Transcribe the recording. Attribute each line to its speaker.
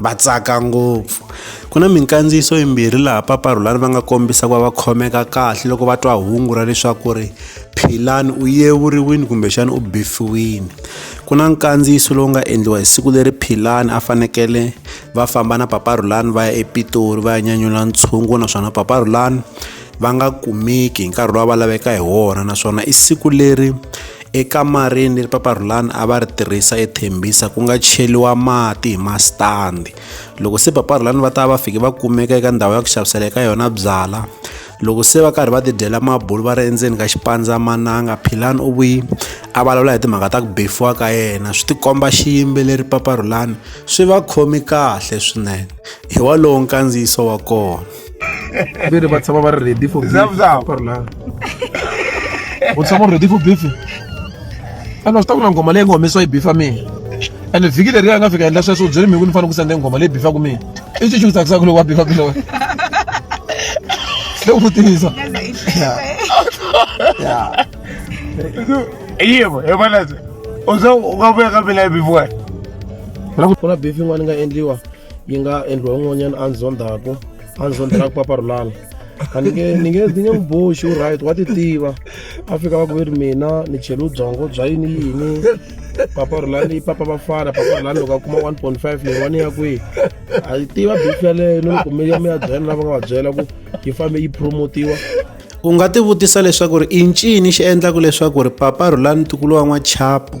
Speaker 1: va tsaka ngopfu ku na minkandziyiso yimbirhi laha paparhulani va nga kombisa ku va va khomeka kahle loko va twa hungu ra leswaku ri philani u yevuriwile kumbexana u bifiwile ku na nkandziyiso lowu nga endliwa hi siku leri philani a fanekele va famba na paparhulani va ya epitori va ya nyanyula ntshungu naswona paparhulani va nga kumeki hi nkarhi lowu va laveka hi wona naswona i siku leri ekamareni leri papa rhulani a va ri tirhisa ethembisa ku nga cheliwa mati hi masitandi loko se papa rhulani va ta va fike va kumeka eka ndhawu ya ku xavisela eka yona byala loko se va karhi va tidyela mabulu va ri endzeni ka xipandzamananga philani u vuyi a vulavula hi timhaka ta ku befiwa ka yena swi tikomba xiyimbeleri papa rhulani swi va khomi kahle swinene hi walowo nkandziyiso wa kona vere
Speaker 2: ba tshaba ba re ready for parla o tshaba ready for beef ene swi ta ku na nghoma leyi nga humesiwa yi bifa mina ene vhiki leri ya nga fika endla sweswo u byele mhiku ni fanele ku sende nghoma leyi bifaku mina i xi xi ku tsakisaka loko wa bifa ku lowe le ku tivisa
Speaker 3: yivo hi vonese u se u nga vuya ka mina yi bifiwena ku
Speaker 2: na beef yin'wana yi nga endliwa yi nga endliwa un'wanyana a ndzi zondaku a ndzi zondelaka paparulana a ni nge ni nge ni nge n'wi boxi u right wa ti tiva a fika va ku ve ri mina ni chele ubyongo bya yini yini paparulani papa vafana paparulani loko a kuma one point five leyi wani ya kwihi a yi tiva bifu yaleyo ni loko mi ya mi ya byela lava nga va byela ku yi fambe yi promotiwa u nga
Speaker 1: tivutisa leswaku ri i ncini xi endlaka leswaku ri papa rhulani ntukulu wa n'wachapu